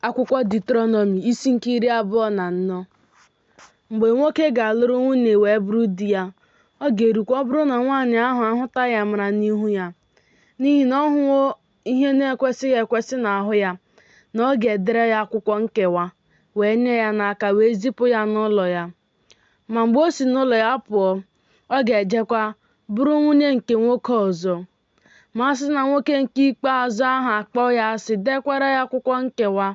Akwụkwọ Diuteronomi isi nke iri abụọ na anọ mgbe nwoke ga-alụrụ nwunye wee bụrụ di ya ọ ga-erukwa ọ bụrụ na nwaanyị ahụ ahụtaghị amara n'ihu ya n'ihi na ọ hụwo ihe na-ekwesịghị ekwesị n'ahụ ya na ọ ga-edere ya akwụkwọ nkewa wee nye ya n'aka wee zipụ ya n'ụlọ ya ma mgbe o si n'ụlọ ya pụọ ọ ga-ejekwa bụrụ nwunye nke nwoke ọzọ ma a sị na nwoke nke ikpeazụ ahụ akpọ ya asị, dekwara ya akwụkwọ nkewa,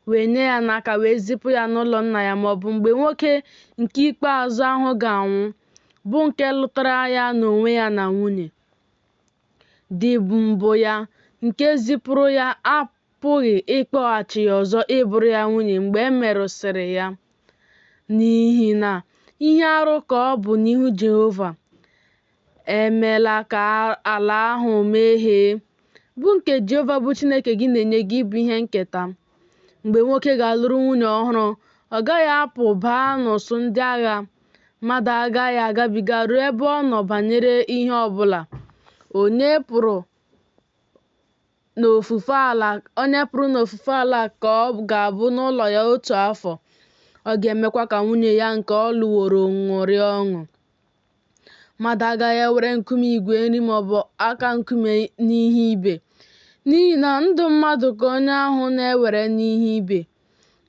wee nye ya n'aka wee zipụ ya n'ụlọ nna ya, ma ọ bụ mgbe nwoke nke ikpeazụ ahụ ga-anwụ, bụ nke lụtara ya n'onwe ya na nwunye di mbụ ya, nke zipụrụ ya apụghị ịkpọghachi ya ọzọ ịbụrụ ya nwunye mgbe e merụsịrị ya, n'ihi na ihe arụ ka ọ bụ n'ihu Jehova. Emela ka ala ahụ mehie, bụ nke Jehova bụ Chineke gị na-enye gị ịbụ ihe nketa. Mgbe nwoke ga-alụrụ nwunye ọhụrụ, ọ gaghị apụ baa n'usuu ndị agha. Mmadụ agaghị agabiga ruo ebe ọ nọ banyere ihe ọ bụla. Onye pụrụ onye pụrụ n'ofufe ala ka ọ ga-abụ n'ụlọ ya otu afọ. Ọ ga-emekwa ka nwunye ya nke ọ lụworo ṅụrịa ọṅụ. Mmadụ agaghị ewere nkume igwe nri ma ọ bụ aka nkume n'ihe ibe, n'ihi na ndụ mmadụ ka onye ahụ na-ewere n'ihe ibe.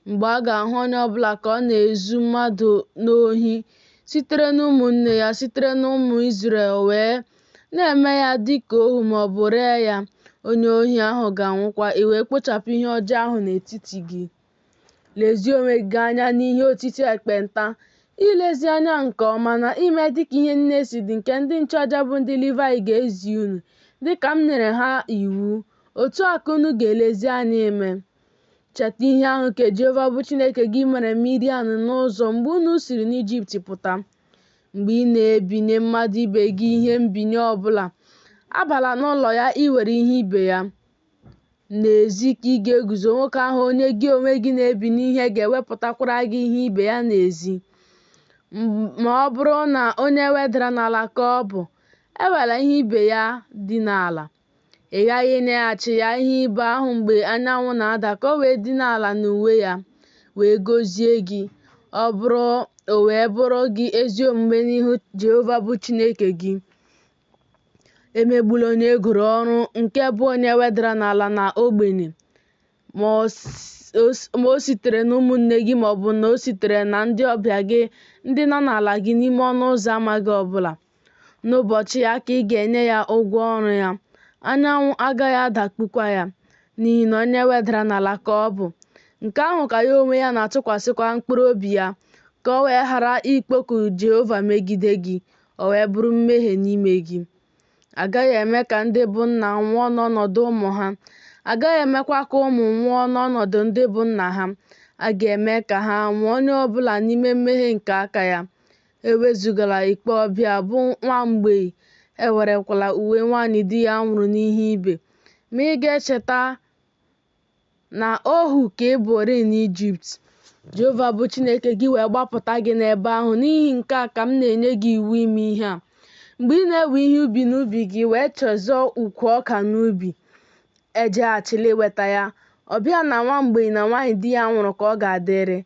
Mgbe a ga-ahụ onye ọ bụla ka ọ na-ezu mmadụ n'ohi sitere n'ụmụnne ya, sitere n'ụmụ Izrel wee na-eme ya dị ka ohu ma ọ bụ ree ya, onye ohi ahụ ga-anwụkwa, i wee kpochapụ ihe ọjọọ ahụ n'etiti gị. Lezie onwe gị anya n'ihe otiti ekpenta, ilezi anya nke ọma na ime dịka ihe niile si dị nke ndị nchụaja bụ ndị Livayị ga-ezi unu, dịka m nyere ha iwu. Otu a ka unu ga-elezi anya ime. Cheta ihe ahụ nke Jehova bụ Chineke gị mere Miriam n'ụzọ mgbe unu siri n'Ijipt pụta. Mgbe ị na-ebinye mmadụ ibe gị ihe mbinye ọbụla, abala n'ụlọ ya iwere ihe ibe ya. N'ezi ka ị ga-eguzo nwoke ahụ onye gị onwe gị na-ebinye ihe ga-ewepụtakwara gị ihe ibe ya n'ezi. Ma ọ bụrụ na onye e wedara n'ala ka ọ bụ, ewela ihe ibe ya dina ala. Ị ghaghị ịnyeghachi ya ihe ibe ahụ mgbe anyanwụ na-ada ka o wee dina ala n'uwe ya, wee gọzie gị. Ọ bụrụ o wee bụrụ gị ezi omume n'ihu Jehova bụ Chineke gị, emegbula onye e goro ọrụ nke bụ onye e wedara n'ala na ogbenye, ma o sitere n'ụmụnne gị ma ọ bụ na o sitere na ndị ọbịa gị ndị nọ n'ala gị n'ime ọnụ ụzọ ama gị ọbụla. N'ụbọchị ya ka ị ga-enye ya ụgwọ ọrụ ya, anyanwụ agaghị adakpukwa ya, n'ihi na onye e wedara n'ala ka ọ bụ. Nke ahụ ka ya onwe ya na-atụkwasịkwa mkpụrụ obi ya, ka o wee ghara ikpoku Jehova megide gị, o wee bụrụ mmehie n'ime gị. A gaghị eme ka ndị bụ nna nwụọ n'ọnọdụ ụmụ ha, a gaghị emekwa ka ụmụ nwụọ n'ọnọdụ ndị bụ nna ha. A ga-eme ka ha nwụọ onye ọ bụla n'ime mmehie nke aka ya. Ewezugala ikpe ọbịa bụ nwa mgbei, ewerekwala uwe nwaanyị di ya nwụrụ n'ihe ibe. Ma ị ga-echeta na ohu ka ị bụrịị n'Ijipt, Jehova bụ Chineke gị wee gbapụta gị n'ebe ahụ. N'ihi nke a ka m na-enye gị iwu ime ihe a. Mgbe ị na-ewe ihe ubi n'ubi gị wee chezọọ ukwu ọka n'ubi, ejeghachila iweta ya. Ọbịa na nwa mgbei na nwaanyị di ya nwụrụ ka ọ ga-adịrị.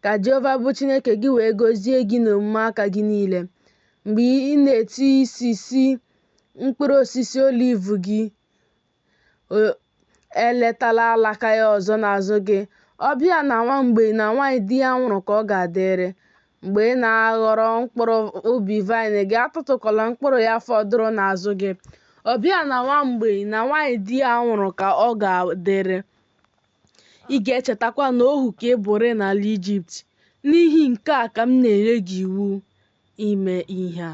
Ka Jehova bụ Chineke gị wee gọzie gị n'omume aka gị niile. Mgbe ị na-etisisi mkpụrụ osisi oliv gị, Eletala alaka ya ọzọ n'azụ gị. Ọbịa na nwa mgbei na nwaanyị di ya nwụrụ ka ọ ga-adịrị. Mgbe ị na-aghọrọ mkpụrụ ubi vaịnị gị, atụtụkwala mkpụrụ ya fọdụrụ n'azụ gị. Ọbịa na nwa mgbei na nwaanyị di ya nwụrụ ka ọ ga-adịrị. Ị ga-echetakwa na ohu ka ị bụrị n'ala Ijipt. N'ihi nke a ka m na-enye gị iwu ime ihe a.